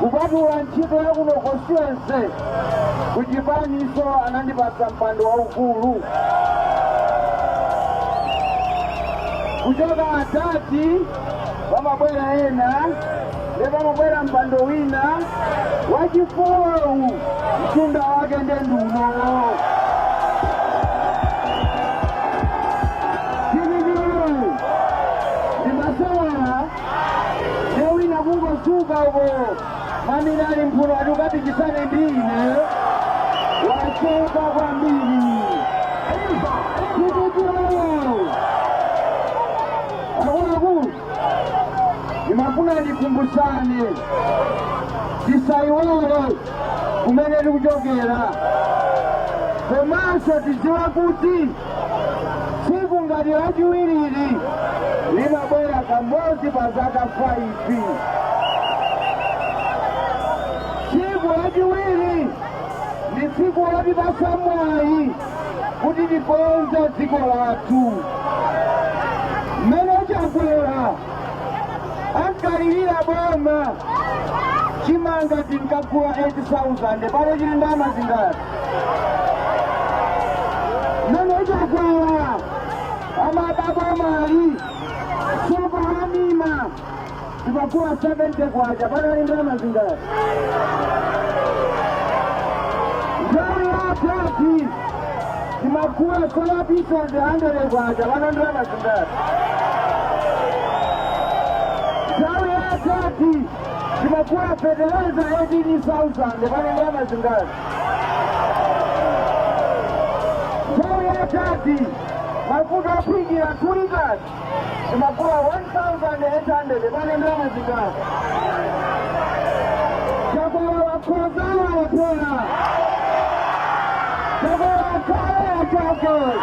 Kupatula ntchito ya kuno constituency, ku chipaninso anandipatsa mpando waukulu. Kuchoka adadi pamabwera ena nde pamabwera mpando wina wachifolowu mtunda wake nde ndunowo. ndiye wina kungodzuka uko mamina ali m'mphuno ati ukapikisane ndi ine wachoka kwambiri tikutirao akuluakulu ndimafuna ndikumbusane tisaiwale kumene tikuchokera komanso tidziwe kuti Tsiku ngati lachiwirili limabwera kamodzi pa zaka 5. Tsiku lachiwiri ndi tsiku lotipatsa mwayi kuti tikonze dziko lathu. Mmene Chakwera ankalirira boma chimanga tinkagula 8,000 pano chili ndalama zingati? mmene Chakwera amalowa m'boma sopo wa Nima timagula 70 kwacha pano ndi ndalama zingati nthawi ya adadi timagula soya pieces 100 kwacha pano ndalama zingati nthawi ya adadi timagula fertilizer 18000 pano ndalama zingati nthawi ya adadi mafuta ophikira 2 litre timagula 1800 pano ndalama zingati Chakwera wakhoza wapheta Chakwera wakhale wachakwera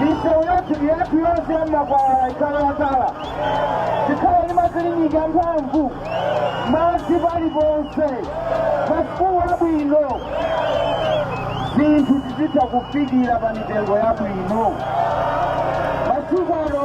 misewu yathu yathu yonse ya m'makwalala ikhale yatala tikhale ndi magetsi amphamvu madzi paliponse masukulu abwino zinthu tizitha kuzifikira pa mitengo yabwino masiku ano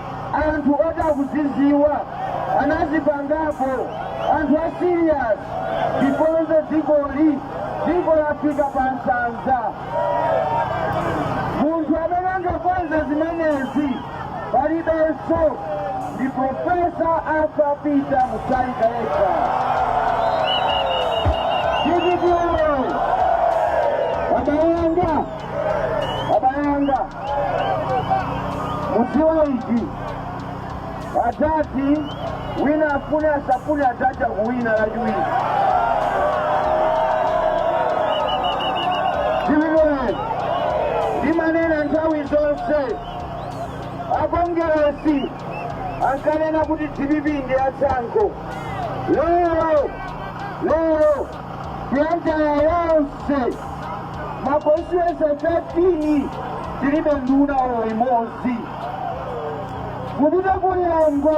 anthu oti akuzidziwa anazipangapo anthu a serious tikonze dzikoli dziko lafika pa nsanza munthu amene angakonze zimenezi palibenso ndi Profesa Arthur Peter Mutharika yekha DPP woyee wabayanga wabayanga mudziwe ichi adadi awina afune asafune adadi akuwina lachiwiri zimenezi ndimanena nthawi zonse akongeresi ankanena kuti dpp ndi atsankho lero lero Blantyre yonse makonstituency 13 tilibe nduna olo imodzi kupita ku Lilongwe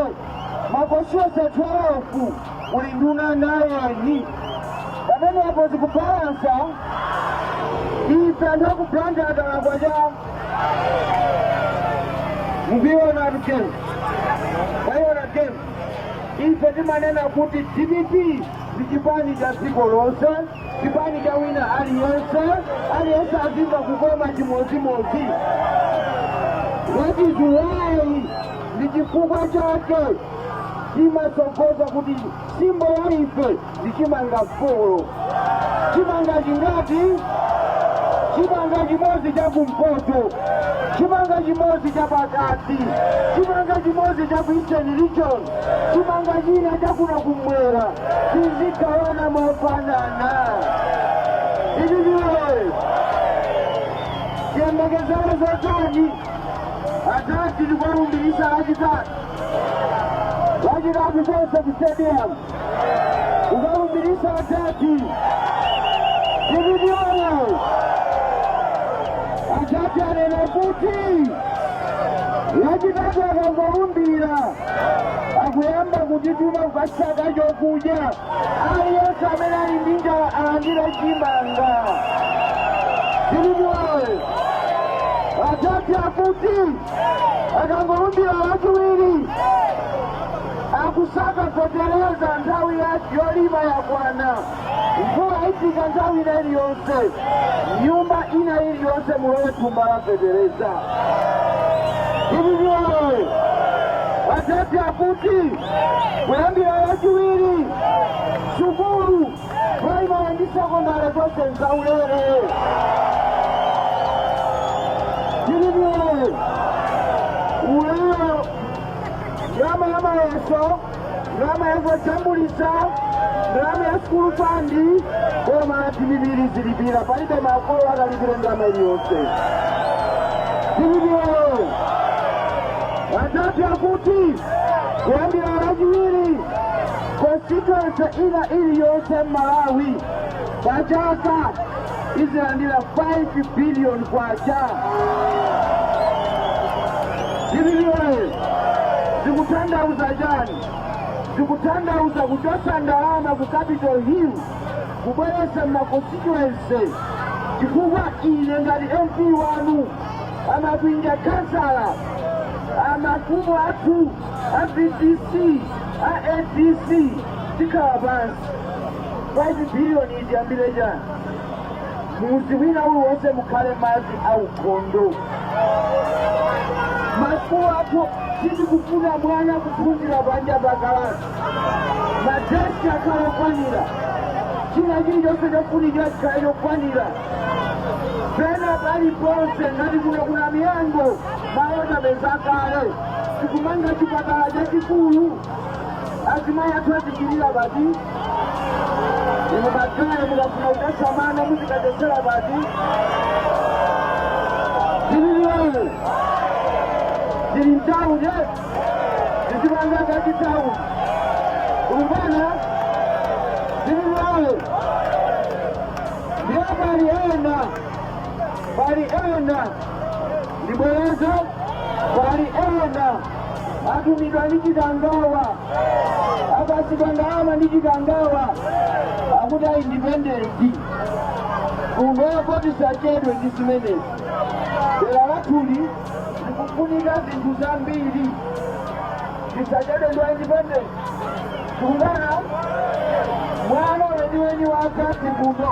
makonstituency 12 kuli nduna nayeni pamenepo zikubalansa ife anthu aku Blantyre talakwa cha mukuionatu game mwaiona game ife timanena kuti dpp ndi chipani cha dziko lonse chipani cha wina aliyense aliyense azimva kukoma chimodzimodzi that is why ndi chifukwa chake timatsogoza kuti simbo ya ife ndi chimanga folo chimanga chingati chimanga chimodzi cha kumpoto chimanga chimodzi cha pakati chimanga chimodzi cha ku eastern region chimanga china chakuno kumwera tizigawana mofanana dpp woyee tiyembekezere zotani adadi tikawalumbiritsa lachitatu lachitatu tonse ku stadium kukalumbiritsa adadi dpp woyee adadi anena kuti lachitatu akangolumbira akuyamba kutituma kukasaka chokudya aliyense amene ali ndi njala alandire chimanga dpp woyee adadi akuti akangolumbira lachiwiri akusaka fetereza nthawi yolima yakwana Mvula ifika nthawi ina iliyonse, nyumba ina iliyonse mulowe thumba la fetereza. DPP woyee adadi akuti kuyambira lachiwiri sukulu primary ndi sekondari zonse nzaulere. DPP woyee ulere ndalama ya mayeso ndalama ya zojambulitsa ndalama ya sukulu fund boma la dpp lizilipira palibe makolo akalipira ndalama iliyonse dpp woyee adadi akuti kuyambira lachiwiri constituency ina iliyonse m'malawi pachaka izilandira 5 billion kwacha dpp woyee zikutanthauza chani zikutanthauza kuchotsa ndalama ku capital hill kubweretsa m'makonstituency chifukwa ine ngati mp wanu amakwinja kansala amafumu athu a vdc a adc tikhala pansi 5 billion itiyambire chani? Mudzi wina uliwonse mukhale madzi aukhondo. Masukulu athu sitikufuna mwana kuphunzira panja pa kalasi. Madeski akhale okwanira. China chilichonse chofunikira chikhale chokwanira. Pena paliponse ngati kuno ku Namiyango malo tapeza kale. Tikumanga chipatala chachikulu. azimayi athu azichirira pati inu makaya mukafuna kudetsa mwana muzikadetsera pati dpp woyee tili mtawuni tizipanga zachitawuni kulubana dpp woyee ndiye pali ena pali ena ndibwereze pali ena atumidwa ndi chikangawa apatsidwa ndalama ndi chikangawa akuti a independent kunoko tisachedwe ndi zimenezi dera lathuli zikufunika zinthu zambiri tisachedwe ndi a independent kungana mwana weniweni wa akasi kuno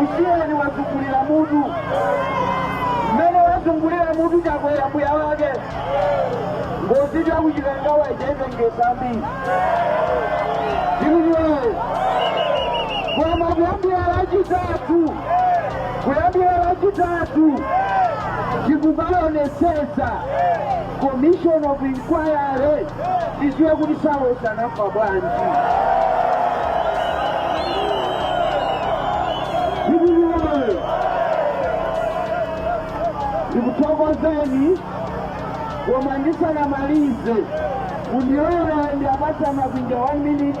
Musiyeni wazungulira mutu mmene wazungulira mutu chakwera mbuya wake ngozi yakuchikangawa chaipengesambi DPP woyee koma kuyambira lachitatu kuyambira lachitatu tikukaonesesa commission of inquiry tiziwe kuti saulos anafa bwanji dpp woyee ndikuthokozeni koma ndisanamalize mundilole ndiwapatse amakwinja 1 minute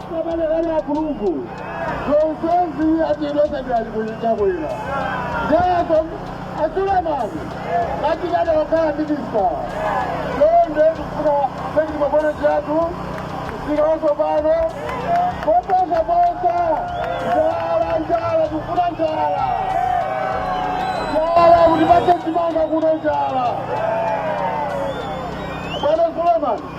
Abale bali akuluakulu zonsezi atilota ndalikulichakwera ndeyako asulemani atigada wakhala minista londe kufuna pekiti mabwana chatu msika wasopano koposa posa njala njala kufuna njala njala kuti pache chimanga kuno njala bwana sulemani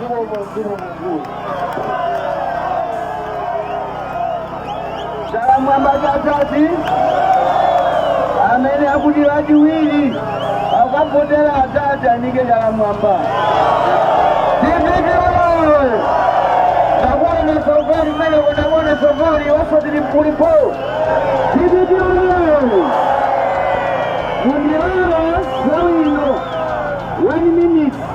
Zikomo mzimu mkulu. Chala mwamba cha adadi amene akuti wachiwiri akavotera adadi anike chala mwamba. Dpp oye! Takuona sokoni mmene kunakuona sokoni osati limkulipo. Dpp oye! Mundilolo nthawi ino 1 minute